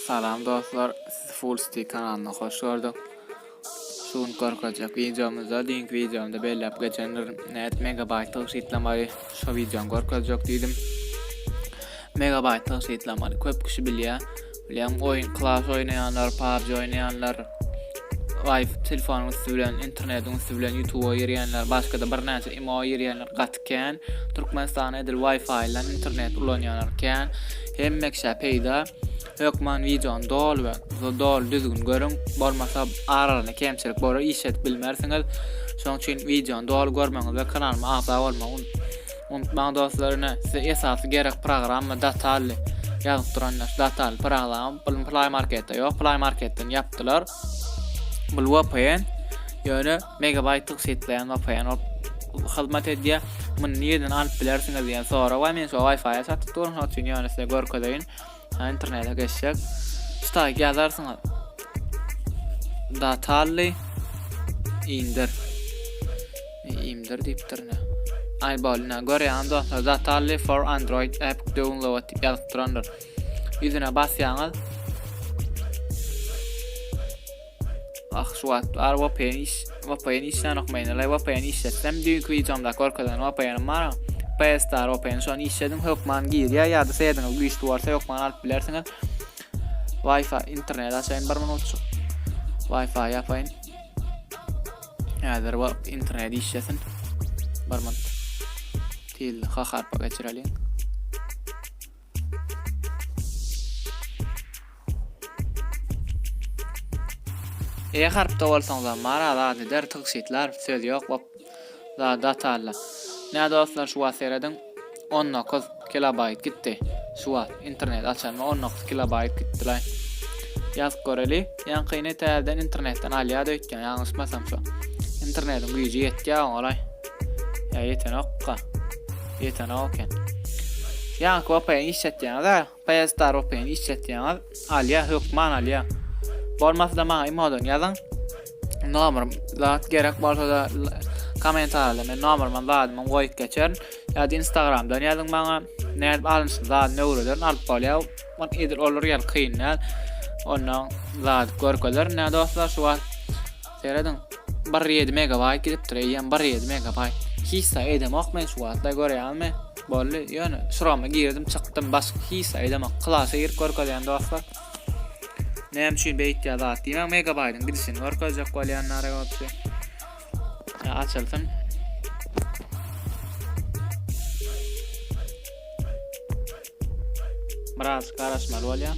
Salam dostlar, sizi Full Stick kanalyna hoş gördük. Şu gün görkezjek videomyzda, düýnki videomda belläp geçendir, näet megabayt tygşytlamagy şu videony görkezjek diýdim. Megabayt tygşytlamany köp kişi bilýär. Bilýän oýun Clash oýnaýanlar, PUBG oýnaýanlar, Wi-Fi telefonyň üstü bilen, internetiň üstü bilen YouTube-a girýänler, başga-da birnäçe imo girýänler, gaty kän Türkmenistanda edil wifi bilen internet ulanýanlar kän hemmekşä peýda hökman wideony doly we doly düzgün görüň bolmasa aralanda kemçilik bolar iş edip bilmersiňiz şoň üçin wideony doly görmegiňiz we kanalyma agza bolmagy unutmaň dostlar ine size esasy gerek programma datally ýazyp duranlar datally program bu play marketde ýok play marketden ýapdylar bu vpn ýöne Megabaýtlyk setleýän vpn bolup hyzmat edýär. Muny nireden alyp bilersiňiz diýen sorag bar. Men şu Wi-Fi satyp durun, şonuň üçin ýöne size görkezeýin. Internete geçjek. Stack ýazarsyňyz. Datally indir. Indir diýipdir ne. Ay bolna görýän dostlar Zatally for Android app download diýip ýazyp durandyr. Ýüzüne basýaňyz. Ah şu wagt bar VPN iş VPN işlänok men ele VPN işletsem düýnki wideomda görkezen VPNim bar PS Star VPN şony işlediň hökman girýär ýa-da seýediňiz güýçli bolsa hökman alyp bilersiňiz Wi-Fi internet açaýyn bir minutçuk Wi-Fi ýapaýyn Häzir wagt internet işlesin bir minut Til ha harpa geçireliň E harpda bolsaňyzam maraz az eder tygşytlar söz ýok bop za datalla. Nä dostlar şu wagt serediň 19 kilobayt gitdi. Şu wagt internet açanma 19 kilobayt gitdi laý. Ýazyp göreli. Ýankyny täzeden internetden alýar öýtýän ýalňyşmasam şu. Internetiň güýji ýetýär oňa laý. Ýa ýetenokka. Ýetenok eken. Ýaňky OP-ni işletýäňiz-ä. PS-dar OP-ni işletýäňiz. Alýa, hökman alýa. Bolmasa-da maňa imodan ýazyň. Nomer zat gerek bolsa-da kommentariýada men nomerimi zadymyň goýup geçerin. Ýa-da Instagramdan ýazyň maňa. Nädip alnyşyny zadyny öwrederin, alyp bolýar. Ol edil olur ýaly kyn däl. Ondan zady görkezerin, nä dostlar, şu wagt. Serediň bir ýedi megabaýt gidipdir eýýäm bir ýedi megabaýt. Hiç zat edemok men şu wagtlar görýäňmi? Boldy ýöne şurama girdim çykdym başga hiç zat edemok. Klasa girip görkezýän dostlar. Näme üçin beýtýär zat diýmäň megabaýdyň gidişini görkezjek bolýan nara ýolçy. Açylsyn. Biraz garaşmaly bolýar.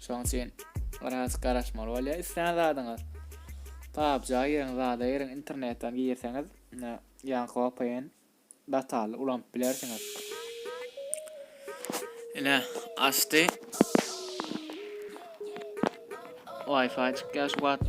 Şoň üçin biraz garaşmaly bolýar islän zadyňyz. Pubg-a giriň, zada giriň, internetden girseňiz, ýaňky vpn datally ulanyp bilersiňiz. Ine, açdy. Wi-Fi çykýar şu wagt.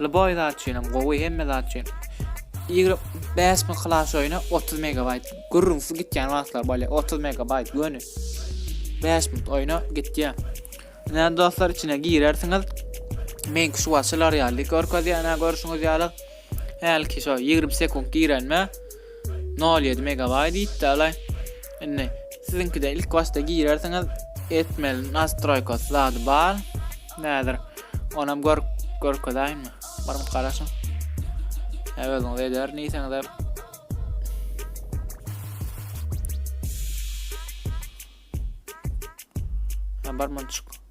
Lboý zat üçinem gowy hemme zat üçin. Ýigrimi bäş müň klass oýna otuz megabaýt. Gürrüňsiz gitýän wagtlar bolýar. Otuz megabaýt göni. Bäş minut oýna gitýär. Ine dostlar içine girersiňiz. Meňki şu wagt şylar ýaly görkezýär, ine görşüňiz ýaly. Hälki şo ýigrimi sekunt girenme. Nol ýedi megabaýt diýipdälaý. Indi siziňkide ilk başda girersiňiz, etmeli nastroýkasy zady bar. Näzir, onam gör görkezäýinmi? Baryp garaşyň. Hä özüňiz ederin diýseňiz hem. Hä bar munçuk.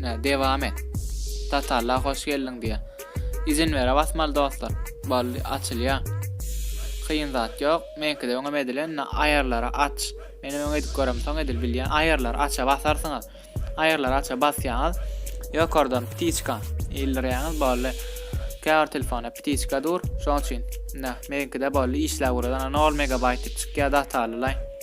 Nä dewam et. Tatalla hoş geldiň diýä. Izin bere basmaly dostlar. Boldy açylýa. Kyn zat ýok. Meňkide öňem edilen na aýarlara aç. Menem öň edip görem soň edil bilýä. Aýarlar aça basarsyňyz. Aýarlar aça basýaňyz. Ýokardan ptiçka ildirýäňiz boldy. Käbir telefona ptiçka dur. Şoň üçin. Na meňkide boldy işläp guradan 0 megabaýt dip çykýa datalylay.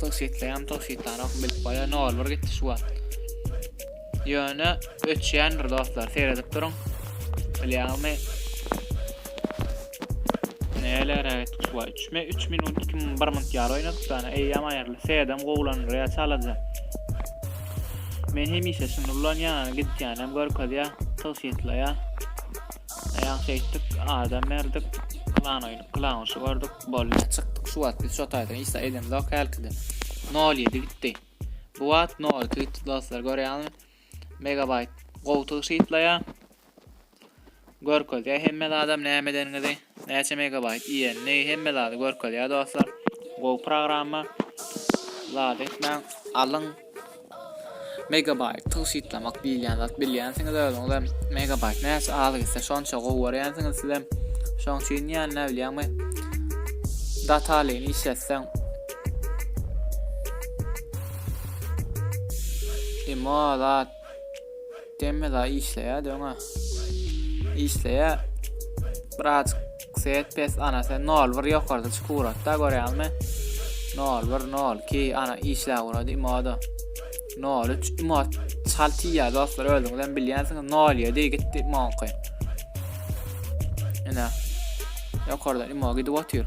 Tygşytlaýam tygşytlanok bilip goýa nol bir gitdi şu wagt. Ýöne öçýändir dostlar seredip duruň. Bilýäňizmi? Neler evet şu wagt 3 me 3 minut 2 minut 1 minut ýar oýnadyk dana eýýam aýyrly sedem gowlandyr ýa çalaja. Men hemişe şuny ulanýan gitýän hem görkezýä tygşytlaýa. Aýagyň şeýtdik, adam berdik, plan oýny, plan guşy gördük, bolýa çykdyk, şu wagt biz şo taýdan iş zat edemzok hälkide. 07 gitdi. Bu wagt 02 gitdi dostlar, görýäňizmi? Megabaýt gowy tygşytlaýar. Görkezýär hemme zadam näme edeniňizi, näçe megabaýt iýenini, hemme zady görkezýär dostlar. Gowy programma. Zat etmäň, alyň. Megabyte tygşytlamak diýilýän zat bilýänsiňiz özüňizem megabyte näçe az gitse şonça gowy görýänsiňiz sizem şoň üçin ýa näbilýäňmi datalyny işletseň imo zat Demme da işleýä döňe. Işleýä. Biraz set pes ana sen 01 ýokarda çyk uratda görýäňmi? 01 02 ana işlä urady imoda. 03 imot çal tiýýä dostlar özüňiz hem bilýänsiňiz 07 gitdi monky. Ene. Ýokarda imo gidip otyr.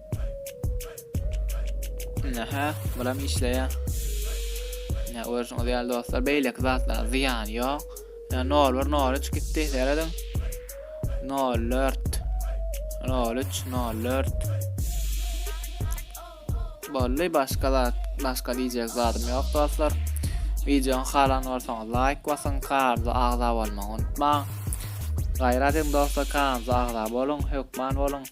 Nähä, bulam işleýär. Nähä görüşiňiz ýaly dostlar, beýleki zatlara zyýany ýok. Nähä 01 03 gitdi, serediň. 04 03 04 Bolly başga zat, başga diýjek zadym ýok dostlar. Wideony halan bolsaňyz laýk basyň, kanala agza bolmagy unutmaň. Gaýrat ediň dostlar, kanala agza boluň, hökman boluň.